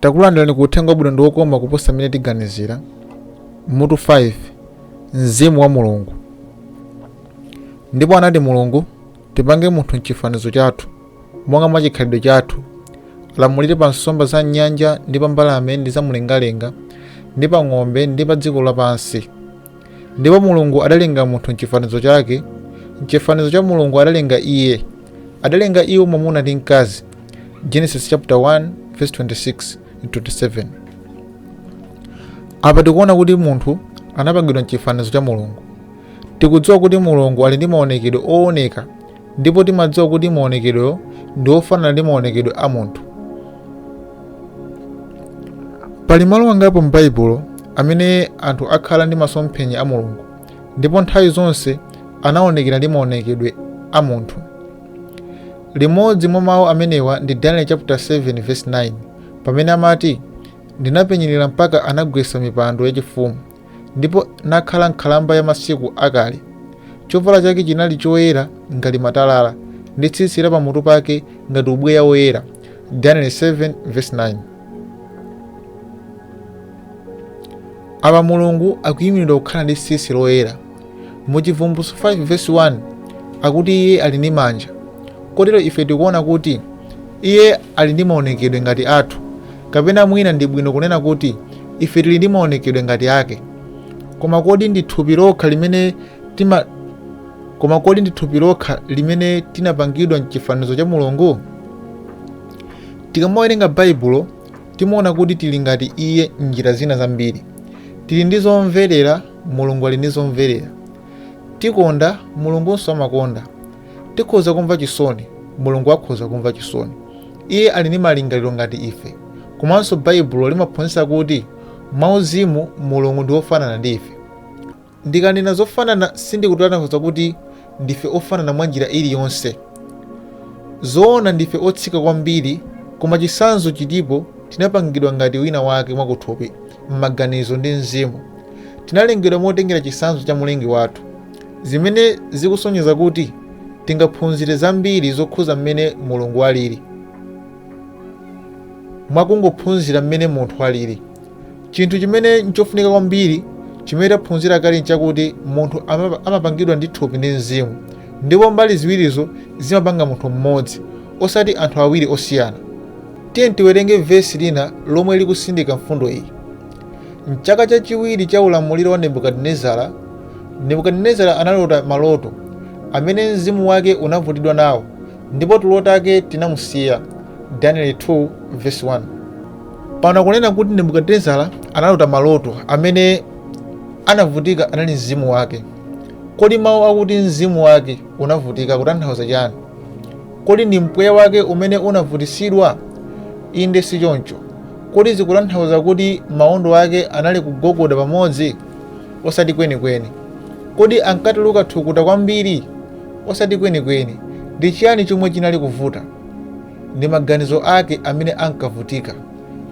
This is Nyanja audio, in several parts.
takulandirani ku uthenga wabwino ndi wokoma kuposa mmene tiganizira mutu 5 mzimu wa mulungu ndipo anati mulungu tipange munthu mchifanizo chathu monga mwa chikhalidwe chathu, alamulire pa nsomba za m'nyanja ndi pa mbalame ndi za mlengalenga ndi pa ng'ombe ndi pa dziko lapansi. Ndipo Mulungu adalenga munthu m'chifanizo chake, m'chifanizo cha Mulungu adalenga iye, adalenga iwo mwamuna ndi mkazi. Genesis chapter 1 verse 26 and 27. Apa tikuona kuti munthu anapangidwa m'chifanizo cha Mulungu. Tikudziwa kuti Mulungu ali ndi maonekedwe ooneka ndipo timadziwa kuti maonekedwewo ndi ofanana ndi maonekedwe a munthu pali malo angapo m'baibulo amene anthu akhala ndi masomphenya a mulungu ndipo nthawi zonse anaonekera ndi maonekedwe a munthu limodzi mwa mawu amenewa ndi daniel chapter 7 verse 9 pamene amati ndinapenyerera mpaka anagwetsa mipando yachifumu ndipo nakhala nkhalamba ya masiku akale. Chovala chake chinali choyera ngati matalala, ndi tsitsi la pamutu pake ngati ubweya woyera. Daniel 7 verse 9. Apa Mulungu akuyimiridwa kukhala ndi tsitsi loyera. mu chivumbulutso 5 vesi 1 akuti iye ali ndi manja kotero ife tikuona kuti iye ali ndi maonekedwe ngati athu kapena mwina ndi bwino kunena kuti ife tili ndi maonekedwe ngati ake koma kodi ndi thupi lokha limene tinapangidwa mchifanizo cha mulungu tikamawerenga baibulo timaona kuti tili ngati iye m'njira zina zambiri tili ndi zomverera Mulungu ali ndi zomverera. Tikonda, Mulungunso amakonda. Tikhoza kumva chisoni, Mulungu akhoza kumva chisoni. Iye ali ndi malingaliro ngati ife. Komanso Baibulo limaphunzitsa kuti mwauzimu Mulungu ndi wofanana ndi ife. Ndikanena zofanana sindikutanthauza kuti ndife ofanana mwa njira iliyonse. Zoona ndife otsika kwambiri, koma chitsanzo chilipo, tinapangidwa ngati wina wake mwakuthupi, m'maganizo ndi mzimu. Tinalengedwa motengera chitsanzo cha Mlengi wathu, zimene zikusonyeza kuti tingaphunzire zambiri zokhudza mmene Mulungu alili mwa kungophunzira mmene munthu alili. Chinthu chimene n'chofunika kwambiri chimene taphunzira kale n'chakuti munthu amapangidwa ndi thupi ndi mzimu, ndipo mbali ziwirizo zimapanga munthu mmodzi, osati anthu awiri osiyana. Tiyeni tiwerenge vesi lina lomwe likusindika mfundo iyi. M'chaka chachiwiri cha ulamuliro wa Nebukadinezara, Nebukadinezara analota maloto amene mzimu wake unavutidwa nawo, ndipo tulo take tinamusiya. Danieli 2 vesi 1. pano akunena kuti nebukadinezara analota maloto amene anavutika anali mzimu wake kodi mawu akuti mzimu wake unavutika akutanthauza chani kodi ndi mpweya wake umene unavutitsidwa inde sichoncho kodi zikutanthauza kuti maondo ake anali kugogoda pamodzi osati kwenikweni kodi ankatuluka thukuta kwambiri osati kwenikweni ndi chiyani chomwe chinali kuvuta ndi maganizo ake amene ankavutika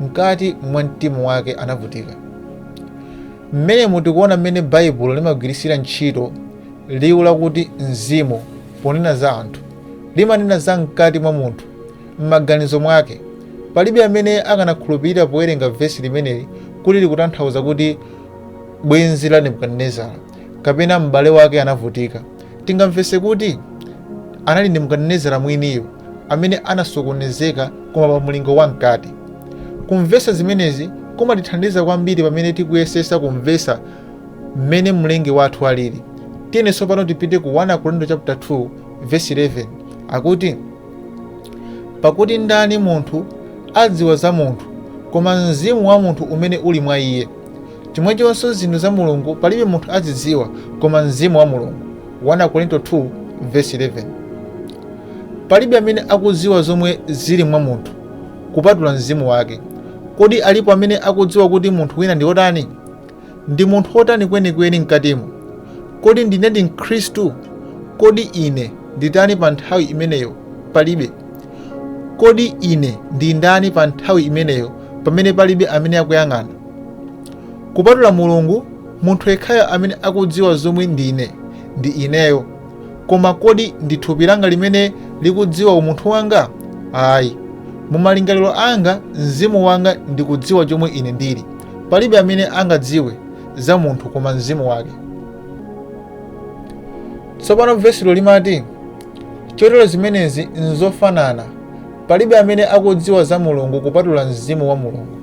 mkati mwa mtima wake anavutika mmenemu tikuona mmene baibulo limagwiritsira ntchito liwu lakuti mzimu ponena za anthu limanena za mkati mwa munthu m'maganizo mwake palibe amene akanakhulupirira powerenga vesi limeneli kuti likutanthauza kuti bwenzi la nebukadinezara kapena m'bale wake anavutika Tingamvetse kuti anali Nebukadinezara mwiniyo amene anasokonezeka koma pa mlingo wamkati. Kumvetsa zimenezi kumatithandiza kwambiri pamene tikuyesetsa kumvetsa mmene Mlengi wathu alili. Tiyeni tsopano tipite ku 1 Akorinto chaputala 2 vesi 11 akuti, Pakuti ndani munthu adziwa za munthu, koma mzimu wa munthu umene uli mwa iye? Chomwechonso zinthu za Mulungu palibe munthu azidziwa, koma Mzimu wa Mulungu, 1 Akorinto 2 vesi 11 Palibe amene akudziwa zomwe zili mwa munthu, kupatula Mzimu wake. Kodi alipo amene akudziwa kuti munthu wina ndi wotani? Ndi munthu wotani kwenikweni mkatimo? Kodi ndine ndi mkhristu? Kodi ine ndi ndani pa nthawi imeneyo? Palibe. Kodi ine ndi ndani pa nthawi imeneyo pamene palibe amene akuyang'ana? Kupatula Mulungu, munthu yekhayo amene akudziwa zomwe ndine ndi ineyo. Koma kodi ndi thupi langa limene likudziwa umunthu wanga? Ayi. Mu malingaliro anga, mzimu wanga ndikudziwa chomwe ine ndili. Palibe amene angadziwe za munthu koma mzimu wake. Tsopano vesilo limati, Chotero zimenezi n'zofanana Palibe amene akudziwa za Mulungu kupatula Mzimu wa Mulungu.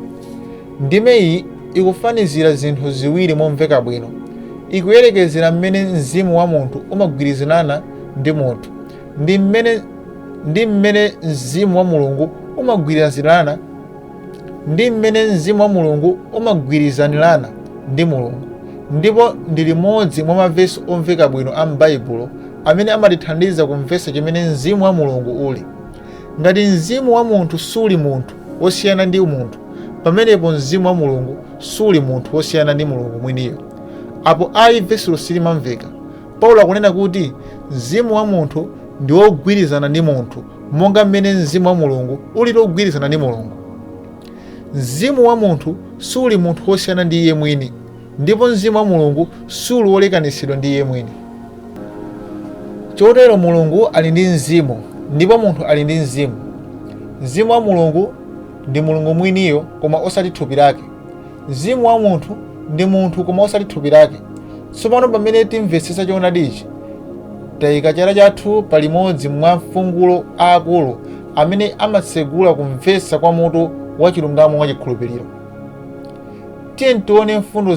Ndime iyi ikufanizira zinthu ziwiri momveka bwino. Ikuyerekezera mmene mzimu wa munthu umagwirizanana ndi munthu ndi mmene mzimu wa Mulungu umagwirizanirana ndi Mulungu ndipo ndi limodzi mwa mavesi omveka bwino a m'Baibulo amene amatithandiza kumvetsa chimene mzimu wa Mulungu uli. Ngati mzimu wa munthu suli munthu wosiyana ndi munthu, pamenepo mzimu wa Mulungu suli munthu wosiyana ndi Mulungu mwiniyo. Apo ayi vesilo silimamveka. Paulo akunena kuti mzimu wa munthu ndi wogwirizana ndi munthu monga mmene mzimu wa Mulungu ulili wogwirizana ndi Mulungu. Mzimu wa munthu suli munthu wosiyana ndi iye mwini. Ndipo Mzimu wa Mulungu suli wolekanitsidwa ndi Iye mwini. Chotero Mulungu ali ndi mzimu, ndipo munthu ali ndi mzimu. Mzimu wa Mulungu ndi Mulungu mwiniyo, koma osati thupi lake. Mzimu wa munthu ndi munthu, koma osati thupi lake. Tsopano pamene timvetsetsa choonadi ichi, tayika chala chathu pa limodzi mwa mfungulo aakulu amene amatsegula kumvetsa kwa mutu wa chilungamo mwa chikhulupiriro. Tiyeni tione mfundo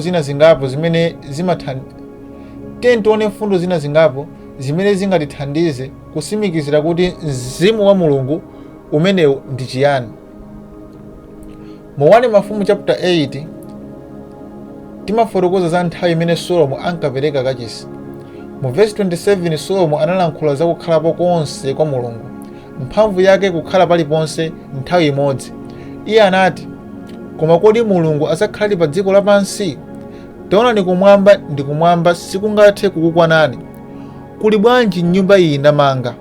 zina zingapo zimene zingatithandize kutsimikizira kuti mzimu wa Mulungu umenewu ndi chiyani. Mu 1 Mafumu chapter 8 timafotokoza za nthawi imene Solomo ankapereka kachisi. Mu vesi 27 Solomo analankhula za kukhalapo konse kwa Mulungu. mphamvu yake kukhala paliponse nthawi imodzi. Iye anati, Koma kodi Mulungu adzakhaladi pa dziko lapansi? Taonani kumwamba ndi kumwamba sikungathe kukukwanani. Kuli bwanji nyumba iyi ndamanga?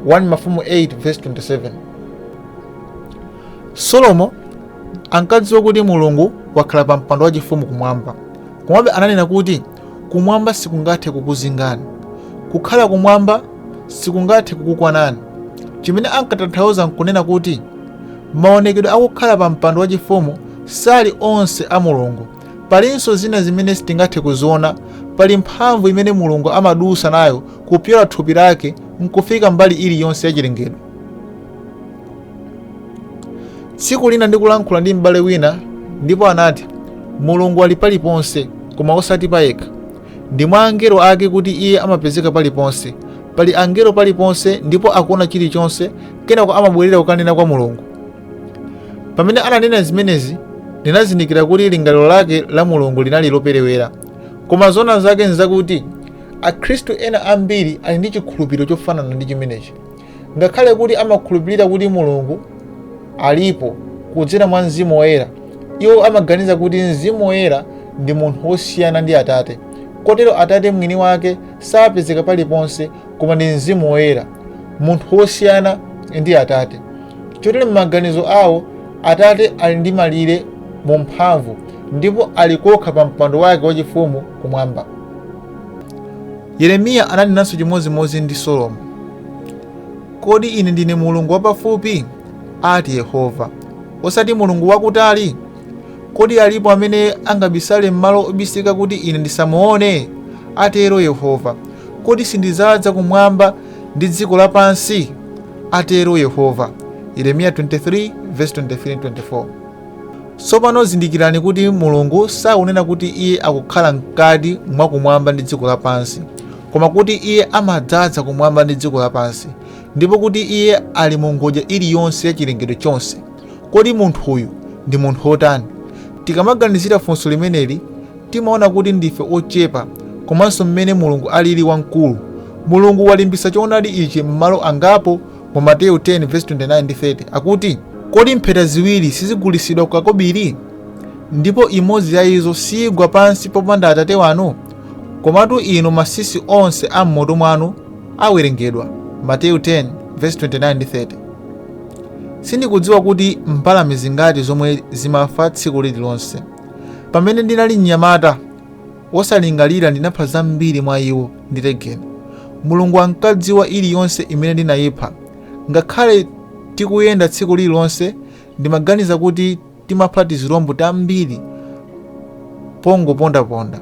1 Mafumu 8:27. Solomo ankadziwa kuti Mulungu wakhala pa mpando wachifumu kumwamba. Komabe ananena kuti Kumwamba sikungathe kukuzingani. Kukhala kumwamba sikungathe kukukwanani. Chimene ankatanthauza n'kunena kuti maonekedwe a kukhala pa mpando wachifumu sali onse a Mulungu. Palinso zina zimene sitingathe kuziona. Pali mphamvu imene Mulungu amadutsa nayo kupyola thupi lake n'kufika mbali iliyonse ya chilengedwe. tsiku lina ndikulankhula ndi m'bale wina ndipo anati mulungu ali paliponse koma osati payekha ndi mwa angelo ake kuti iye amapezeka paliponse pali angelo paliponse ndipo akuona chilichonse kenako amabwerera kukanena kwa mulungu pamene ananena zimenezi ndinazindikira kuti lingaliro lake la mulungu linali loperewera koma zoona zake nzakuti akhristu ena ambiri ali ndi chikhulupiriro chofanana ndi chimenechi Ngakhale kuti amakhulupirira kuti Mulungu alipo kudzera mwa mzimu woyera, iwo amaganiza kuti mzimu woyera ndi munthu wosiyana ndi Atate. Kotero Atate mwini wake sapezeka paliponse koma ndi mzimu woyera, munthu wosiyana ndi Atate. Chotero m'maganizo awo, Atate ali ndi malire mu mphamvu ndipo ali kokha pa mpando wake wachifumu kumwamba. Yeremiya ananenanso chimodzimodzi ndi Solomo. Kodi ine ndine Mulungu wapafupi? ati Yehova, osati Mulungu wakutali? Kodi alipo amene angabisale m'malo obisika kuti ine ndisamuone? atero Yehova. Kodi sindidzaza kumwamba ndi dziko lapansi? atero Yehova. Yeremiya 23:23-24. Tsopano zindikirani kuti Mulungu sakunena kuti iye akukhala mkati mwa kumwamba ndi dziko lapansi, koma kuti iye amadzaza kumwamba ndi dziko lapansi, ndipo kuti iye ali mu ngodya iliyonse ya chilengedwe chonse. Kodi munthuyu ndi munthu wotani? Tikamaganizira funso limeneli, timaona kuti ndife ochepa komanso mmene Mulungu alili wamkulu. Mulungu walimbitsa choonadi ichi m'malo angapo mu Mateyu 10:29 ndi 30 akuti, Kodi mpheta ziwiri sizigulitsidwa kukakobiri? Ndipo imodzi ya izo siigwa pansi popanda Atate wanu? Komatu inu matsitsi onse a m'mutu mwanu awerengedwa. Mateyu 10:29 ndi 30. Sindikudziwa kuti mbalame zingati zomwe zimafa tsiku lililonse. Pamene ndinali mnyamata, wosalingalira ndinapha zambiri mwa iwo ndi legeni. Mulungu ankadziwa iliyonse imene ndinaipha. Ngakhale tikuyenda tsiku lililonse, ndimaganiza kuti timapha tizilombo tambiri pongopondaponda.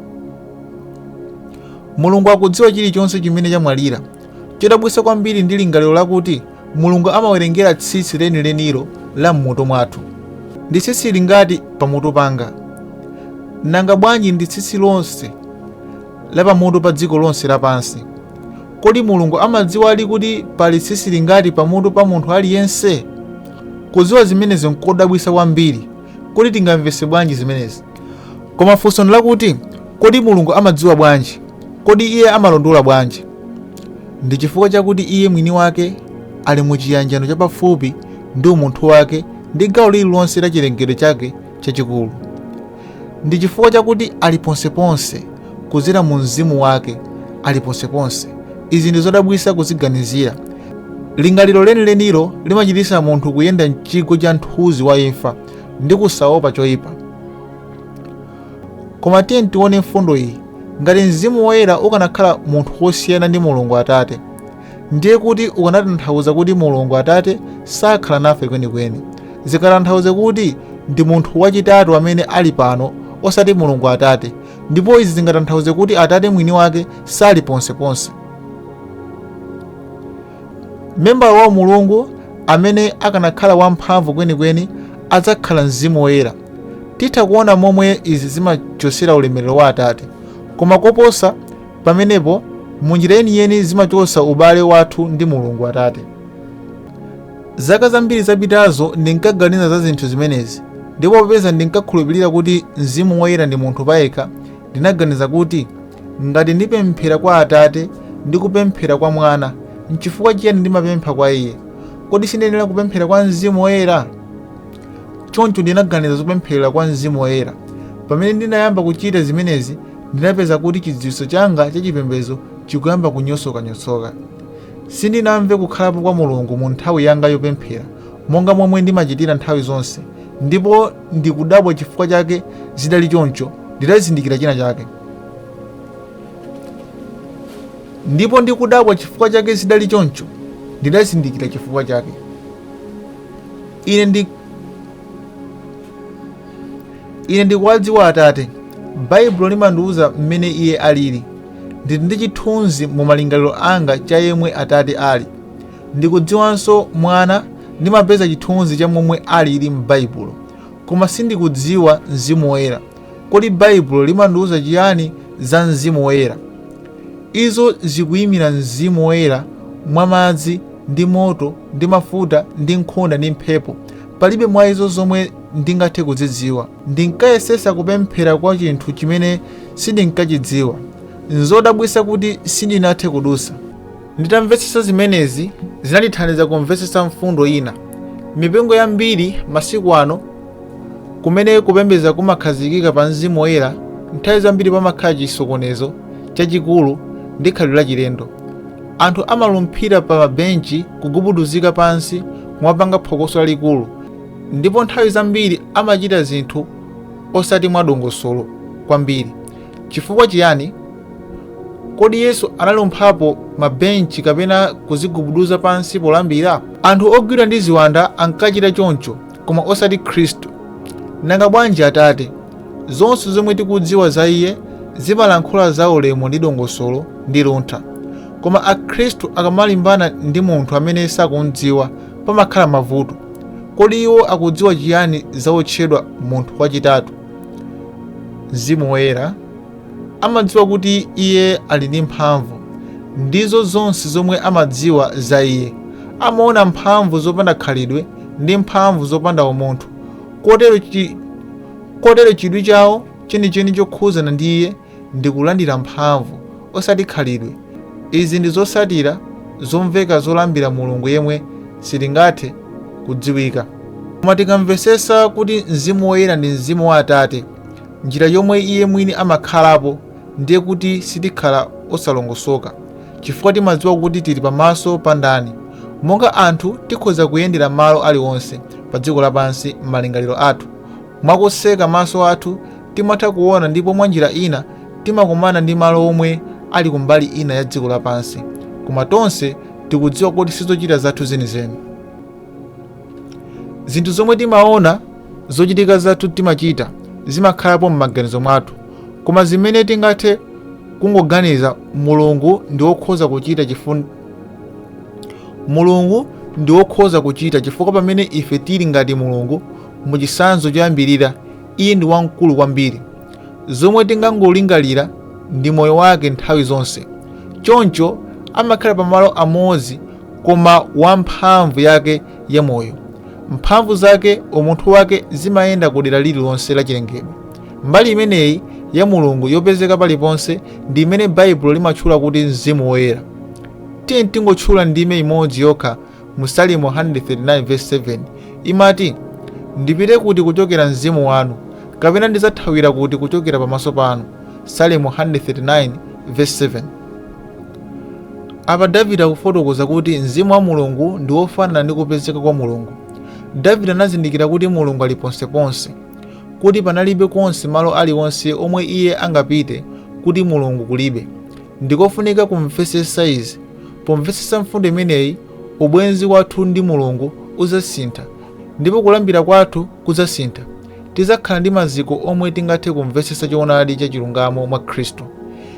Mulungu akudziwa chilichonse chimene chamwalira. Chodabwitsa kwambiri ndi lingaliro lakuti Mulungu amawerengera tsitsi lenilenilo la m'mutu mwathu. Ndi tsitsi lingati pamutu panga? Nanga bwanji ndi tsitsi lonse la pamutu pa dziko lonse lapansi? Kodi Mulungu amadziwadi kuti pali tsitsi lingati pamutu pa munthu aliyense? Kudziwa zimenezi n'kodabwitsa kwambiri. Kodi tingamvetse bwanji zimenezi? Koma funso ndi lakuti, Kodi Mulungu amadziwa bwanji? Kodi iye amalondola bwanji? Ndi chifukwa chakuti iye mwini wake ali mu chiyanjano chapafupi ndi umunthu wake ndi gawo lililonse la chilengedwe chake chachikulu. Ndi chifukwa chakuti ali ponseponse, kudzera mu mzimu wake, ali ponseponse. Izi ndi zodabwitsa kuziganizira. Lingaliro lenilenilo limachititsa munthu kuyenda m'chigwa cha mthunzi wa imfa ndi kusaopa choipa. Koma tiyeni tione mfundo iyi. Ngati mzimu woyera ukanakhala munthu wosiyana ndi Mulungu Atate, ndiye kuti ukanatanthauza kuti Mulungu Atate sakhala nafe kwenikweni. Zingatanthauze kuti ndi munthu wachitatu amene ali pano osati Mulungu Atate, ndipo izi zingatanthauze kuti Atate mwini wake sali ponseponse. Membala wa Mulungu amene akanakhala wamphamvu kwenikweni adzakhala mzimu woyera. Titha kuona momwe izi zimachotsera ulemerero wa Atate, koma koposa pamenepo, mu njira yeniyeni zimachotsa ubale wathu ndi Mulungu Atate. Zaka zambiri zapitazo ndinkaganiza za zinthu zimenezi, ndipo popeza ndinkakhulupirira kuti mzimu woyera ndi munthu payekha, ndinaganiza kuti, Ngati ndipemphera kwa Atate ndi kupemphera kwa Mwana, n'chifukwa chiyani ndimapempha kwa iye? Kodi sindiyenera kupemphera kwa mzimu woyera? Choncho ndinaganiza zopemphera kwa mzimu woyera. Pamene ndinayamba kuchita zimenezi, ndinapeza kuti chidziwitso changa cha chipembedzo chikuyamba kunyosokanyotsoka. Sindinamve kukhalapo kwa Mulungu mu nthawi yanga yopemphera monga momwe ndimachitira nthawi zonse, ndipo ndikudabwa chifukwa chake zidali choncho. Ndidazindikira chifukwa chake. ine ndikuwadziwa atate baibulo limandiwuza mmene iye alili ndili ndi chithunzi mu malingaliro anga cha yemwe atate ali ndikudziwanso mwana ndimapeza chithunzi cha momwe alili m'baibulo koma sindikudziwa mzimu woyera Kodi Baibulo limandiuza chiyani za Mzimu Woyera? Izo zikuimira Mzimu Woyera mwa madzi, ndi moto, ndi mafuta, ndi nkhunda, ndi mphepo. Palibe mwa izo zomwe ndingathe kuzidziwa. Ndinkayesetsa kupemphera kwa chinthu chimene sindinkachidziwa. Nzodabwitsa kuti sindinathe kudutsa. Nditamvetsetsa zimenezi, zinandithandiza kumvetsetsa mfundo ina. M'mipingo yambiri masiku ano, kumene kupembedza kumakhazikika pa mzimu woyera, nthawi zambiri pamakhala chisokonezo chachikulu ndi khalidwe lachilendo. Anthu amalumphira pa mabenchi, kugubuduzika pansi kumapanga phokoso lalikulu, ndipo nthawi zambiri amachita zinthu osati mwadongosolo kwambiri. Chifukwa chiyani? Kodi Yesu analumphapo mabenchi kapena kuzigubuduza pansi polambira? Anthu ogwidwa ndi ziwanda ankachita choncho, koma osati Khristu. Nanga bwanji Atate? Zonse zomwe tikudziwa za iye zimalankhula za ulemu ndi dongosolo ndi luntha. Koma Akhristu akamalimbana ndi munthu amene sakum'dziwa pamakhala mavuto. Kodi iwo akudziwa chiyani za otchedwa munthu wachitatu, mzimu woyera? amadziwa kuti Iye ali ndi mphamvu. Ndizo zonse zomwe amadziwa za Iye. Amaona mphamvu zopanda khalidwe ndi mphamvu zopanda umunthu. Kotero chidwi chawo chenicheni chokhuzana ndi Iye ndi kulandira mphamvu, osati khalidwe. Izi ndi zotsatira zomveka zolambira Mulungu yemwe sitingathe kudziwika. Koma tikamvetsetsa kuti Mzimu Woyera ndi Mzimu wa Atate, Njira yomwe iye mwini amakhalapo ndiye kuti sitikhala osalongosoka chifukwa timadziwa kuti tili pamaso pa ndani. Monga anthu tikhoza kuyendera malo aliwonse padziko lapansi m'malingaliro athu. Mwa kutseka maso athu timatha kuona ndipo mwanjira ina timakumana ndi malo omwe ali kumbali ina ya dziko lapansi koma tonse tikudziwa kuti sizochita zathu zenizeni. zinthu zomwe timaona zochitika zathu timachita zimakhalapo m'maganizo mwathu koma zimene tingathe kungoganiza mulungu ndi wokhoza kuchita chifukwa pamene ife tili ngati mulungu mu chitsanzo choyambirira iye ndi wamkulu kwambiri zomwe tingangolingalira ndi moyo wake nthawi zonse choncho amakhala pamalo amodzi koma wa mphamvu yake ya moyo. Mphamvu zake, umunthu wake zimayenda ku dera lililonse la chilengedwe. Mbali imeneyi ya Mulungu yopezeka paliponse ndi imene Baibulo limatchula kuti mzimu woyera. Tiyeni tingotchula ndime imodzi yokha mu Salimo 139:7 imati, Ndipite kuti kuchokera mzimu wanu, kapena ndidzathawira kuti kuchokera pamaso panu. Salimo 139:7. Apa Davide akufotokoza kuti mzimu wa Mulungu ndi wofanana ndi kupezeka kwa Mulungu. Davide anazindikira kuti Mulungu ali ponseponse, kuti panalibe konse malo aliwonse omwe iye angapite kuti Mulungu kulibe. Ndikofunika kumvetsetsa izi. Pomvetsetsa mfundo imeneyi, ubwenzi wathu ndi Mulungu udzasintha, ndipo kulambira kwathu kudzasintha. Tidzakhala ndi maziko omwe tingathe kumvetsetsa choonadi cha chilungamo mwa Khristu.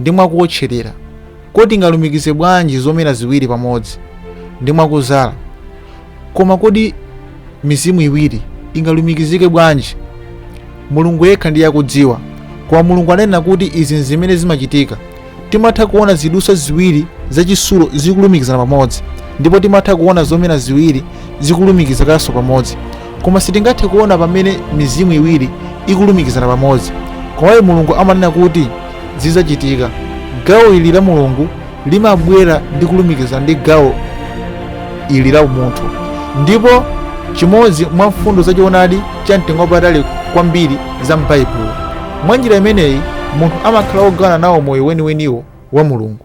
ndi mwa kuwotcherera. Kodi tingalumikize bwanji zomera ziwiri pamodzi? Ndi mwa kuzala. Koma kodi mizimu iwiri ingalumikizike bwanji? Mulungu yekha ndiye akudziwa. Koma Mulungu ananena kuti izi n'zimene zimachitika. Timatha kuona zidutswa ziwiri za chitsulo zikulumikizana pamodzi, ndipo timatha kuona zomera ziwiri zikulumikizikanso pamodzi. Koma sitingathe kuona pamene mizimu iwiri ikulumikizana pamodzi. Komabe Mulungu amanena kuti zidzachitika. Gawo ili la Mulungu limabwera ndi kulumikizana ndi gawo ili la umunthu. Ndipo chimodzi mwa mfundo za choonadi cha mtengo wapatali kwambiri za m'Baibulo. Mwa njira imeneyi munthu amakhala wogawana nawo moyo weniweniwo wa Mulungu.